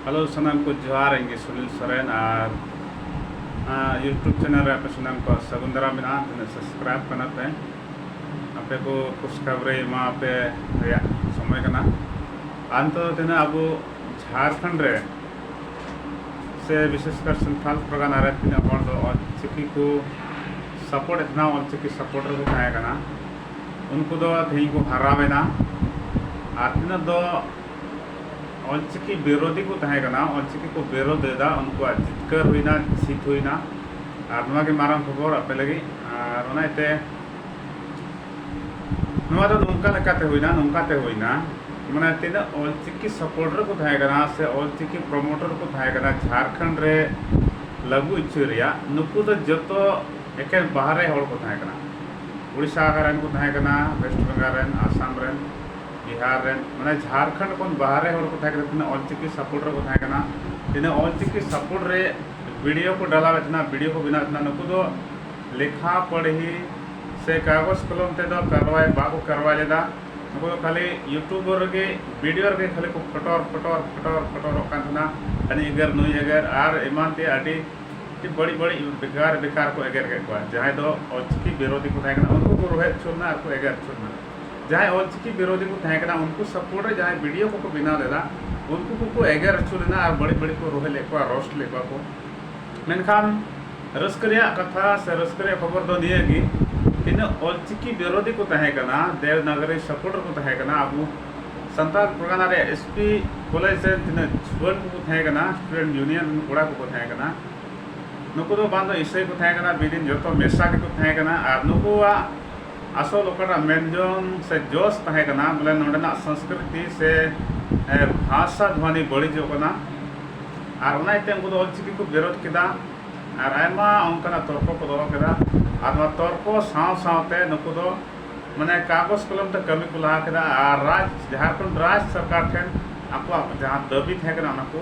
hello ᱥᱟᱱᱟᱢ ᱠᱚ ᱡᱚᱦᱟᱨ ᱤᱧ ᱜᱮ ᱥᱩᱱᱤᱞ ᱥᱚᱨᱮᱱ ᱟᱨ ᱤᱭᱩᱴᱩᱵᱽ ᱪᱮᱱᱮᱞ ᱨᱮ ᱟᱯᱮ ᱥᱟᱱᱟᱢ ᱠᱚ ᱥᱟᱹᱜᱩᱱ ᱫᱟᱨᱟᱢ ᱢᱮᱱᱟᱜᱼᱟ ᱛᱤᱱᱟᱹᱜ ᱥᱟᱵᱥᱠᱨᱟᱭᱤᱵᱽ ᱠᱟᱱᱟ ᱯᱮ ᱟᱯᱮ ᱠᱚ ᱠᱷᱩᱥᱠᱷᱟᱵᱨᱤ ᱮᱢᱟ ᱯᱮ ᱨᱮᱭᱟᱜ ᱥᱚᱢᱚᱭ ᱠᱟᱱᱟ ᱟᱨ ᱱᱤᱛᱚᱜ ᱫᱚ ᱛᱤᱱᱟᱹᱜ ᱟᱵᱚ ᱡᱷᱟᱲᱠᱷᱚᱸᱰ ᱨᱮ ᱥᱮ ᱵᱤᱥᱮᱥ ᱠᱟᱨ ᱥᱟᱱᱛᱟᱞ ᱯᱨᱚᱜᱟᱱᱟ ᱨᱮ ᱛᱤᱱᱟᱹᱜ ᱦᱚᱲ ᱫᱚ ᱚᱞᱪᱤᱠᱤ ᱠᱚ ᱥᱟᱯᱳᱨᱴ ᱮᱫ ᱛᱟᱦᱮᱱᱟ ᱚᱞᱪᱤᱠᱤ ᱥᱟᱯᱳᱨᱴ ᱨᱮᱠᱚ ᱛᱟᱦᱮᱸ ᱠᱟᱱᱟ ᱩᱱᱠᱩ ᱫᱚ ᱛᱮᱦᱮᱧ ᱠᱚ ᱦᱟᱨᱟᱣᱮᱱᱟ ᱟᱨ ᱛᱤᱱᱟᱹᱜ ᱫᱚ ᱚᱞᱪᱤᱠᱤ ᱵᱤᱨᱳᱫᱷᱤ ᱠᱚ ᱛᱟᱦᱮᱸ ᱠᱟᱱᱟ ᱚᱞᱪᱤᱠᱤ ᱠᱚ ᱵᱤᱨᱳᱫᱷ ᱞᱮᱫᱟ ᱩᱱᱠᱩᱣᱟᱜ ᱡᱤᱛᱠᱟᱹᱨ ᱦᱩᱭᱱᱟ ᱡᱤᱛ ᱦᱩᱭᱱᱟ ᱟᱨ ᱱᱚᱣᱟ ᱜᱮ ᱢᱟᱨᱟᱝ ᱠᱷᱚᱵᱚᱨ ᱟᱯᱮ ᱞᱟᱹᱜᱤᱫ ᱟᱨ ᱚᱱᱟ ᱤᱭᱟᱹᱛᱮ ᱱᱚᱣᱟ ᱫᱚ ᱱᱚᱝᱠᱟ ᱞᱮᱠᱟᱛᱮ ᱦᱩᱭᱱᱟ ᱱᱚᱝᱠᱟᱛᱮ ᱦᱩᱭᱱᱟ ᱢᱟᱱᱮ ᱛᱤᱱᱟᱹᱜ ᱚᱞᱪᱤᱠᱤ ᱥᱟᱯᱳᱨᱴᱟᱨ ᱠᱚ ᱛᱟᱦᱮᱸ ᱠᱟᱱᱟ ᱥᱮ ᱚᱞᱪᱤᱠᱤ ᱯᱨᱚᱢᱳᱴᱟᱨ ᱠᱚ ᱛᱟᱦᱮᱸ ᱠᱟᱱᱟ ᱡᱷᱟᱲᱠᱷᱚᱸᱰ ᱨᱮ ᱞᱟᱹᱜᱩ ᱦᱚᱪᱚᱭ ᱨᱮᱭᱟᱜ ᱱᱩᱠᱩ ᱫᱚ ᱡᱚᱛᱚ ᱮᱠᱮᱱ ᱵᱟᱦᱨᱮ ᱦᱚᱲ ᱠᱚ ᱛᱟᱦᱮᱸ ᱠᱟᱱᱟ ᱩᱲᱤᱥᱥᱟ ᱨᱮᱱ ᱠᱚ ᱛᱟᱦᱮᱸ ᱠᱟᱱᱟ ᱳᱭᱮᱥᱴ ᱵᱮᱝᱜᱚᱞ ᱨᱮᱱ ᱟᱥᱟᱢ ᱨᱮᱱ ᱵᱤᱦᱟᱨ ᱨᱮᱱ ᱢᱟᱱᱮ ᱡᱷᱟᱨᱠᱷᱚᱸᱰ ᱠᱷᱚᱱ ᱵᱟᱦᱨᱮ ᱦᱚᱲ ᱠᱚ ᱛᱟᱦᱮᱸ ᱠᱟᱱᱟ ᱛᱤᱱᱟᱹᱜ ᱚᱞᱪᱤᱠᱤ ᱥᱟᱯᱳᱨᱴ ᱨᱮᱠᱚ ᱛᱟᱦᱮᱸ ᱠᱟᱱᱟ ᱛᱤᱱᱟᱹᱜ ᱚᱞᱪᱤᱠᱤ ᱥᱟᱯᱳᱨᱴ ᱨᱮ ᱵᱷᱤᱰᱤᱭᱳ ᱠᱚ ᱰᱟᱞᱟᱣᱮᱫ ᱛᱟᱦᱮᱱᱟ ᱵᱷᱤᱰᱤᱭᱳ ᱠᱚ ᱵᱮᱱᱟᱣᱮᱫ ᱛᱟᱦᱮᱱᱟ ᱱᱩᱠᱩ ᱫᱚ ᱞᱮᱠᱷᱟ ᱯᱟᱲᱦᱤ ᱥᱮ ᱠᱟᱜᱚᱡᱽ ᱠᱚᱞᱚᱢ ᱛᱮᱫᱚ ᱠᱟᱨᱣᱟᱭ ᱵᱟᱠᱚ ᱠᱟᱨᱣᱟᱭ ᱞᱮᱫᱟ ᱱᱩᱠᱩ ᱫᱚ ᱠᱷᱟᱹᱞᱤ ᱤᱭᱩᱴᱩᱵᱽ ᱨᱮᱜᱮ ᱵᱷᱤᱰᱤᱭᱳ ᱨᱮᱜᱮ ᱠᱷᱟᱹᱞᱤ ᱠᱚ ᱯᱷᱚᱴᱚᱨ ᱯᱷᱚᱴᱚᱨ ᱯᱷᱚᱴᱚᱨ ᱯᱷᱚᱴᱚᱨᱚᱜ ᱠᱟᱱ ᱛᱟᱦᱮᱱᱟ ᱦᱟᱹᱱᱤ ᱮᱜᱮᱨ ᱱᱩᱭ ᱮᱜᱮᱨ ᱟᱨ ᱮᱢᱟᱱ ᱛᱮᱭᱟᱜ ᱟᱹᱰᱤ ᱵᱟᱹᱲᱤᱡ ᱵᱟᱹᱲᱤᱡ ᱵᱮᱠᱟᱨ ᱵᱮᱠᱟᱨ ᱠᱚ ᱮᱜᱮᱨ ᱠᱮᱫ ᱠᱚᱣᱟ ᱡᱟᱦᱟᱸᱭ ᱫᱚ ᱚᱞᱪᱤᱠᱤ ᱵᱤᱨᱳᱫᱷᱤ ᱠᱚ ᱛᱟᱦᱮᱸ ᱠᱟᱱᱟ ᱩᱱᱠᱩ ᱠᱚ ᱨᱳᱦᱮᱫ ᱦᱚᱪᱚ ᱞᱮᱱᱟ ᱟᱨ ᱠᱚ ᱮᱜᱮᱨ ᱦᱚᱪᱚ ᱞᱮᱱᱟ ᱡᱟᱦᱟᱸᱭ ᱚᱞᱪᱤᱠᱤ ᱵᱤᱨᱳᱫᱷᱤ ᱠᱚ ᱛᱟᱦᱮᱸ ᱠᱟᱱᱟ ᱩᱱᱠᱩ ᱥᱟᱯᱳᱨᱴ ᱨᱮ ᱡᱟᱦᱟᱸᱭ ᱵᱷᱤᱰᱤᱭᱳ ᱠᱚᱠᱚ ᱵᱮᱱᱟᱣ ᱞᱮᱫᱟ ᱩᱱᱠᱩ ᱠᱚᱠᱚ ᱮᱜᱮᱨ ᱟᱹᱪᱩ ᱞᱮᱱᱟ ᱟᱨ ᱵᱟᱹᱲᱤᱡ ᱵᱟᱹᱲᱤᱡ ᱠᱚ ᱨᱚᱦᱮᱫ ᱞᱮᱫ ᱠᱚᱣᱟ ᱨᱳᱥᱴ ᱞᱮᱫ ᱠᱚᱣᱟ ᱠᱚ ᱢᱮᱱᱠᱷᱟᱱ ᱨᱟᱹᱥᱠᱟᱹ ᱨᱮᱭᱟᱜ ᱠᱟᱛᱷᱟ ᱥᱮ ᱨᱟᱹᱥᱠᱟᱹ ᱨᱮᱭᱟᱜ ᱠᱷᱚᱵᱚᱨ ᱫᱚ ᱱᱤᱭᱟᱹ ᱜᱮ ᱛᱤᱱᱟᱹᱜ ᱚᱞᱪᱤᱠᱤ ᱵᱤᱨᱳᱫᱷᱤ ᱠᱚ ᱛᱟᱦᱮᱸ ᱠᱟᱱᱟ ᱫᱮᱵᱽᱱᱟᱜᱚᱨᱤ ᱥᱟᱯᱳᱨᱴ ᱨᱮᱠᱚ ᱛᱟᱦᱮᱸ ᱠᱟᱱᱟ ᱟᱵᱚ ᱥᱟᱱᱛᱟᱲ ᱯᱟᱨᱜᱟᱱᱟ ᱨᱮᱭᱟᱜ ᱮᱥ ᱯᱤ ᱠᱚᱞᱮᱡᱽ ᱨᱮ ᱛᱤᱱᱟᱹᱜ ᱡᱩᱣᱟᱹᱱ ᱠᱚᱠᱚ ᱛᱟᱦᱮᱸ ᱠᱟᱱᱟ ᱥᱴᱩᱰᱮᱱᱴ ᱭᱩᱱᱤᱭᱚᱱ ᱨᱮᱱ ᱠᱚᱲᱟ ᱠᱚᱠᱚ ᱛᱟᱦᱮᱸ ᱠᱟᱱᱟ ᱱᱩᱠᱩ ᱫᱚ ᱵᱟᱝ ᱫᱚ ᱤᱥᱟᱹᱭ ᱠᱚ ᱛᱟᱦᱮᱸ ᱠᱟᱱᱟ ᱵᱤᱫᱤᱱ ᱡᱚᱛᱚ ᱢᱮᱥᱟ ᱜᱮᱠᱚ ᱛᱟᱦᱮᱸ ᱠᱟᱱᱟ ᱟᱨ ᱱᱩᱠᱩᱣᱟᱜ ᱟᱥᱚᱞ ᱚᱠᱟᱴᱟᱜ ᱢᱮᱱ ᱡᱚᱝ ᱥᱮ ᱡᱚᱥ ᱛᱟᱦᱮᱸ ᱠᱟᱱᱟ ᱵᱚᱞᱮ ᱱᱚᱰᱮᱱᱟᱜ ᱥᱚᱸᱥᱠᱨᱤᱛᱤ ᱥᱮ ᱵᱷᱟᱥᱟ ᱫᱷᱚᱱᱤ ᱵᱟᱹᱲᱤᱡᱚᱜ ᱠᱟᱱᱟ ᱟᱨ ᱚᱱᱟ ᱤᱭᱟᱹᱛᱮ ᱩᱱᱠᱩ ᱫᱚ ᱚᱞ ᱪᱤᱠᱤ ᱠᱚ ᱵᱤᱨᱳᱫᱷ ᱠᱮᱫᱟ ᱟᱨ ᱟᱭᱢᱟ ᱚᱱᱠᱟᱱᱟᱜ ᱛᱚᱨᱠᱚ ᱠᱚ ᱫᱚᱦᱚ ᱠᱮᱫᱟ ᱟᱨ ᱱᱚᱣᱟ ᱛᱚᱨᱠᱚ ᱥᱟᱶ ᱥᱟᱶᱛᱮ ᱱᱩᱠᱩ ᱫᱚ ᱢᱟᱱᱮ ᱠᱟᱜᱚᱡᱽ ᱠᱚᱞᱚᱢ ᱛᱮ ᱠᱟᱹᱢᱤ ᱠᱚ ᱞᱟᱦᱟ ᱠᱮᱫᱟ ᱟᱨ ᱨᱟᱡᱽ ᱡᱷᱟᱲᱠᱷᱚᱸᱰ ᱨᱟᱡᱽ ᱥᱚᱨᱠᱟᱨ ᱴᱷᱮᱱ ᱟᱠᱚᱣᱟᱜ ᱡᱟᱦᱟᱸ ᱫᱟᱹᱵᱤ ᱛᱟᱦᱮᱸ ᱠᱟᱱᱟ ᱚᱱᱟ ᱠᱚ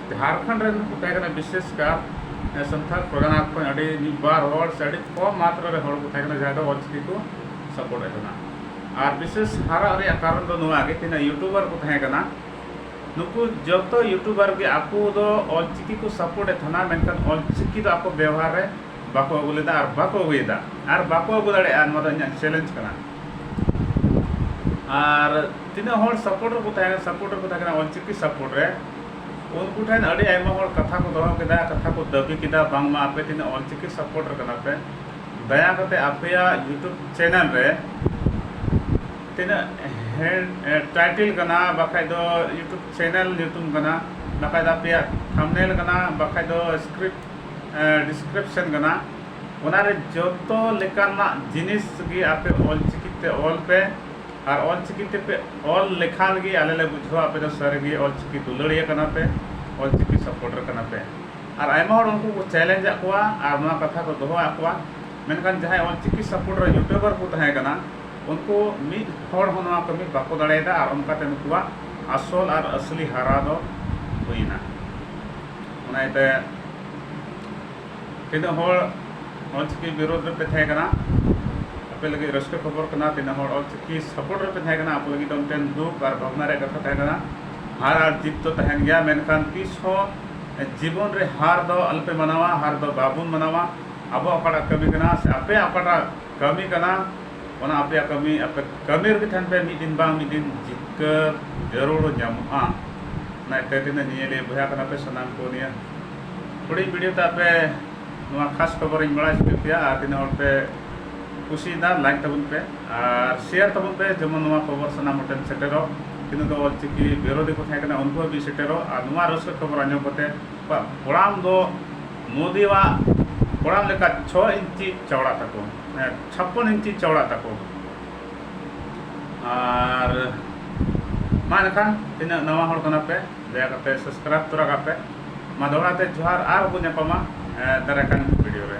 ᱡᱷᱟᱲᱠᱷᱚᱸᱰ ᱨᱮᱱ ᱠᱚ ᱛᱟᱦᱮᱸ ᱠᱟᱱᱟ ᱵᱤᱥᱮᱥ ᱠᱟᱨ ᱥᱟᱱᱛᱟᱲ ᱯᱨᱚᱜᱟᱱᱟ ᱠᱷᱚᱱ ᱟᱹᱰᱤ ᱢᱤᱫ ᱵᱟᱨ ᱦᱚᱲ ᱥᱮ ᱟᱹᱰᱤ ᱠᱚᱢ ᱢᱟᱛᱨᱟ ᱨᱮ ᱦᱚᱲ ᱠᱚ ᱛᱟᱦᱮᱸ ᱠᱟᱱᱟ ᱡᱟᱦᱟᱸᱭ ᱫᱚ ᱚᱞᱪᱤᱠᱤ ᱠᱚ ᱥᱟᱯᱳᱨᱴ ᱮᱫ ᱠᱟᱱᱟ ᱟᱨ ᱵᱤᱥᱮᱥ ᱦᱟᱨᱟᱜ ᱨᱮᱭᱟᱜ ᱠᱟᱨᱚᱱ ᱫᱚ ᱱᱚᱣᱟ ᱜᱮ ᱛᱤᱱᱟᱹᱜ ᱤᱭᱩᱴᱩᱵᱟᱨ ᱠᱚ ᱛᱟᱦᱮᱸ ᱠᱟᱱᱟ ᱱᱩᱠᱩ ᱡᱚᱛᱚ ᱤᱭᱩᱴᱩᱵᱟᱨ ᱜᱮ ᱟᱠᱚ ᱫᱚ ᱚᱞᱪᱤᱠᱤ ᱠᱚ ᱥᱟᱯᱳᱨᱴ ᱮᱫ ᱛᱟᱦᱮᱱᱟ ᱢᱮᱱᱠᱷᱟᱱ ᱚᱞᱪᱤᱠᱤ ᱫᱚ ᱟᱠᱚ ᱵᱮᱣᱦᱟᱨ ᱨᱮ ᱵᱟᱠᱚ ᱟᱹᱜᱩ ᱞᱮᱫᱟ ᱟᱨ ᱵᱟᱠᱚ ᱟᱹᱜᱩᱭᱮᱫᱟ ᱟᱨ ᱵᱟᱠᱚ ᱟᱹᱜᱩ ᱫᱟᱲᱮᱭᱟᱜᱼᱟ ᱱᱚᱣᱟ ᱫᱚ ᱤᱧᱟᱹᱜ ᱪᱮᱞᱮᱧᱡᱽ ᱠᱟᱱᱟ ᱟᱨ ᱛᱤᱱᱟᱹᱜ ᱦᱚᱲ ᱥᱟᱯᱳᱨᱴ ᱨᱮᱠᱚ ᱛᱟᱦᱮᱸ ᱠᱟᱱᱟ ᱥᱟᱯᱳᱨᱴ ᱨᱮᱠᱚ ᱛᱟᱦᱮᱸ ᱠᱟᱱᱟ ᱚᱞᱪᱤᱠᱤ ᱥᱟᱯᱳᱨᱴ ᱨᱮ ᱩᱱᱠᱩ ᱴᱷᱮᱱ ᱟᱹᱰᱤ ᱟᱭᱢᱟ ᱦᱚᱲ ᱠᱟᱛᱷᱟ ᱠᱚ ᱫᱚᱦᱚ ᱠᱮᱫᱟ ᱠᱟᱛᱷᱟ ᱠᱚ ᱫᱟᱹᱵᱤ ᱠᱮᱫᱟ ᱵᱟᱝᱢᱟ ᱟᱯᱮ ᱛᱤᱱᱟᱹᱜ ᱚᱞᱪᱤᱠᱤ ᱥᱟᱯᱳᱨᱴ ᱨᱮ ᱠᱟᱱᱟ ᱯᱮ ᱫᱟᱭᱟ ᱠᱟᱛᱮ ᱟᱯᱮᱭᱟᱜ ᱤᱭᱩᱴᱩᱵᱽ ᱪᱮᱱᱮᱞ ᱨᱮ ᱛᱤᱱᱟᱹᱜ ᱦᱮᱰ ᱴᱟᱭᱴᱮᱞ ᱠᱟᱱᱟ ᱵᱟᱠᱷᱟᱡ ᱫᱚ ᱤᱭᱩᱴᱩᱵᱽ ᱪᱮᱱᱮᱞ ᱧᱩᱛᱩᱢ ᱠᱟᱱᱟ ᱵᱟᱠᱷᱟᱡ ᱫᱚ ᱟᱯᱮᱭᱟᱜ ᱛᱷᱟᱢᱵᱽᱱᱮᱞ ᱠᱟᱱᱟ ᱵᱟᱠᱷᱟᱡ ᱫᱚ ᱥᱠᱨᱤᱯᱴ ᱰᱤᱥᱠᱨᱤᱯᱥᱮᱱ ᱠᱟᱱᱟ ᱚᱱᱟ ᱨᱮ ᱡᱚᱛᱚ ᱞᱮᱠᱟᱱᱟᱜ ᱡᱤᱱᱤᱥ ᱜᱮ ᱟᱯᱮ ᱚᱞ ᱪᱤᱠᱤ ᱛᱮ ᱚᱞ ᱯᱮ ᱟᱨ ᱚᱞ ᱪᱤᱠᱤ ᱛᱮ ᱯᱮ ᱚᱞ ᱞᱮᱠᱷᱟᱱ ᱜᱮ ᱟᱞᱮ ᱞᱮ ᱵᱩᱡᱷᱟᱹᱣᱟ ᱟᱯᱮ ᱫᱚ ᱥᱟᱹᱨᱤ ᱜᱮ ᱚᱞ ᱪᱤᱠᱤ ᱫᱩᱞᱟᱹᱲᱤᱭᱟᱹ ᱠᱟᱱᱟ ᱯᱮ ᱚᱞ ᱪᱤᱠᱤ ᱥᱟᱯᱚᱨᱴᱟᱨ ᱠᱟᱱᱟ ᱯᱮ ᱟᱨ ᱟᱭᱢᱟ ᱦᱚᱲ ᱩᱱᱠᱩ ᱠᱚ ᱪᱮᱞᱮᱧᱡᱽ ᱟᱫ ᱠᱚᱣᱟ ᱟᱨ ᱱᱚᱣᱟ ᱠᱟᱛᱷᱟ ᱠᱚ ᱫᱚᱦᱚ ᱟᱫ ᱠᱚᱣᱟ ᱢᱮᱱᱠᱷᱟᱱ ᱡᱟᱦᱟᱸᱭ ᱚᱞ ᱪᱤᱠᱤ ᱥᱟᱯᱚᱨᱴᱟᱨ ᱭᱩᱴᱩᱵᱟᱨ ᱠᱚ ᱛᱟᱦᱮᱸ ᱠᱟᱱᱟ ᱩᱱᱠᱩ ᱢᱤᱫ ᱦᱚᱲ ᱦᱚᱸ ᱱᱚᱣᱟ ᱠᱟᱹᱢᱤ ᱵᱟᱠᱚ ᱫᱟᱲᱮᱭᱟᱫᱟ ᱟᱨ ᱚᱱᱠᱟ ᱛᱮ ᱱᱩᱠᱩᱣᱟᱜ ᱟᱥᱚᱞ ᱟᱨ ᱟᱹᱥᱞᱤ ᱦᱟᱨᱟ ᱫᱚ ᱦᱩᱭᱮᱱᱟ ᱚᱱᱟ ᱤᱭᱟᱹᱛᱮ ᱛᱤᱱᱟᱹᱜ ᱦᱚᱲ ᱚᱞ ᱪᱤᱠᱤ ᱵᱤᱨᱳᱫᱷ ᱨᱮᱯᱮ ᱛᱟᱦᱮᱸ ᱠᱟᱱᱟ ᱟᱯᱮ ᱞᱟᱹᱜᱤᱫ ᱨᱟᱹᱥᱠᱟᱹ ᱠᱷᱚᱵᱚᱨ ᱠᱟᱱᱟ ᱛᱤᱱᱟᱹᱜ ᱦᱚᱲ ᱚᱞ ᱪᱤᱠᱤ ᱥᱟᱯᱳᱨᱴ ᱨᱮᱯᱮ ᱛᱟᱦᱮᱸ ᱠᱟᱱᱟ ᱟᱯᱮ ᱞᱟᱹᱜᱤᱫ ᱫᱚ ᱢᱤᱫᱴᱮᱱ ᱫᱩᱠ ᱟᱨ ᱵᱷᱟᱵᱽᱱᱟ ᱨᱮᱭᱟᱜ ᱠᱟᱛᱷᱟ ᱛᱟᱦᱮᱸ ᱠᱟᱱᱟ ᱦᱟᱨ ᱟᱨ ᱡᱤᱛ ᱫᱚ ᱛᱟᱦᱮᱱ ᱜᱮᱭᱟ ᱢᱮᱱᱠᱷᱟᱱ ᱛᱤᱥ ᱦᱚᱸ ᱡᱤᱵᱚᱱ ᱨᱮ ᱦᱟᱨ ᱫᱚ ᱟᱞᱚᱯᱮ ᱢᱟᱱᱟᱣᱟ ᱦᱟᱨ ᱫᱚ ᱵᱟᱵᱚᱱ ᱢᱟᱱᱟᱣᱟ ᱟᱵᱚᱣᱟᱜ ᱚᱠᱟᱴᱟᱜ ᱠᱟᱹᱢᱤ ᱠᱟᱱᱟ ᱥᱮ ᱟᱯᱮᱭᱟᱜ ᱚᱠᱟᱴᱟᱜ ᱠᱟᱹᱢᱤ ᱠᱟᱱᱟ ᱚᱱᱟ ᱟᱯᱮᱭᱟᱜ ᱠᱟᱹᱢᱤ ᱟᱯᱮ ᱠᱟᱹᱢᱤ ᱨᱮᱜᱮ ᱛᱟᱦᱮᱱ ᱯᱮ ᱢᱤᱫ ᱫᱤᱱ ᱵᱟᱝ ᱢᱤᱫ ᱫᱤᱱ ᱡᱤᱛᱠᱟᱹᱨ ᱡᱟᱹᱨᱩᱲ ᱧᱟᱢᱚᱜᱼᱟ ᱚᱱᱟ ᱤᱠᱷᱟᱹ ᱛᱮ ᱱᱤᱭᱟᱹ ᱞᱟᱹᱭ ᱵᱚᱭᱦᱟ ᱠᱟᱱᱟ ᱯᱮ ᱥᱟᱱᱟᱢ ᱠᱚ ᱱᱤᱭᱟᱹ ᱦᱩᱰᱤᱧ ᱵᱷᱤᱰᱤᱭᱳ ᱛᱮ ᱟᱯᱮ ᱱᱚᱣᱟ ᱠᱷᱟᱥ ᱠᱷᱚᱵᱚᱨ ᱤᱧ ᱵᱟᱲᱟᱭ ᱦᱚᱪᱚ ᱯᱮᱭᱟ ᱟᱨ ᱛᱤᱱᱟᱹᱜ ᱦᱚᱲ ᱯᱮ ᱠᱩᱥᱤᱭᱮᱫᱟ ᱞᱟᱭᱤᱠ ᱛᱟᱵᱚᱱ ᱯᱮ ᱟᱨ ᱥᱮᱭᱟᱨ ᱛᱟᱵᱚᱱ ᱯᱮ ᱡᱮᱢᱚᱱ ᱱᱚᱣᱟ ᱠᱷᱚᱵᱚᱨ ᱥᱟᱱᱟᱢ ᱦᱚᱲ ᱴᱷᱮᱱ ᱥᱮᱴᱮᱨᱚᱜ ᱛᱤᱱᱟᱹᱜ ᱫᱚ ᱚᱞᱪᱤᱠᱤ ᱵᱤᱨᱳᱫᱷᱤ ᱠᱚ ᱛᱟᱦᱮᱸ ᱠᱟᱱᱟ ᱩᱱᱠᱩ ᱦᱟᱹᱵᱤᱡ ᱥᱮᱴᱮᱨᱚᱜ ᱟᱨ ᱱᱚᱣᱟ ᱨᱟᱹᱥᱠᱟᱹ ᱠᱷᱚᱵᱚᱨ ᱟᱸᱡᱚᱢ ᱠᱟᱛᱮ ᱟᱠᱚᱣᱟᱜ ᱠᱚᱲᱟᱢ ᱫᱚ ᱢᱳᱫᱤᱣᱟᱜ ᱠᱚᱲᱟᱢ ᱞᱮᱠᱟ ᱪᱷᱚ ᱤᱧᱪᱤ ᱪᱟᱣᱲᱟ ᱛᱟᱠᱚ ᱪᱷᱟᱯᱯᱚᱱ ᱤᱧᱪᱤ ᱪᱟᱣᱲᱟ ᱛᱟᱠᱚ ᱟᱨ ᱢᱟ ᱮᱱᱠᱷᱟᱱ ᱛᱤᱱᱟᱹᱜ ᱱᱟᱣᱟ ᱦᱚᱲ ᱠᱟᱱᱟ ᱯᱮ ᱫᱟᱭᱟ ᱠᱟᱛᱮ ᱥᱟᱵᱥᱠᱨᱟᱭᱤᱵ ᱛᱚᱨᱟ ᱠᱟᱜ ᱯᱮ ᱢᱟ ᱫᱚᱦᱲᱟ ᱛᱮ ᱡᱚᱦᱟᱨ ᱟᱨᱦᱚᱸ ᱵᱚ ᱧᱟᱯᱟᱢᱟ ᱫᱟᱨᱟᱭ ᱠᱟᱱ ᱵᱷᱤᱰᱤᱭᱳ ᱨᱮ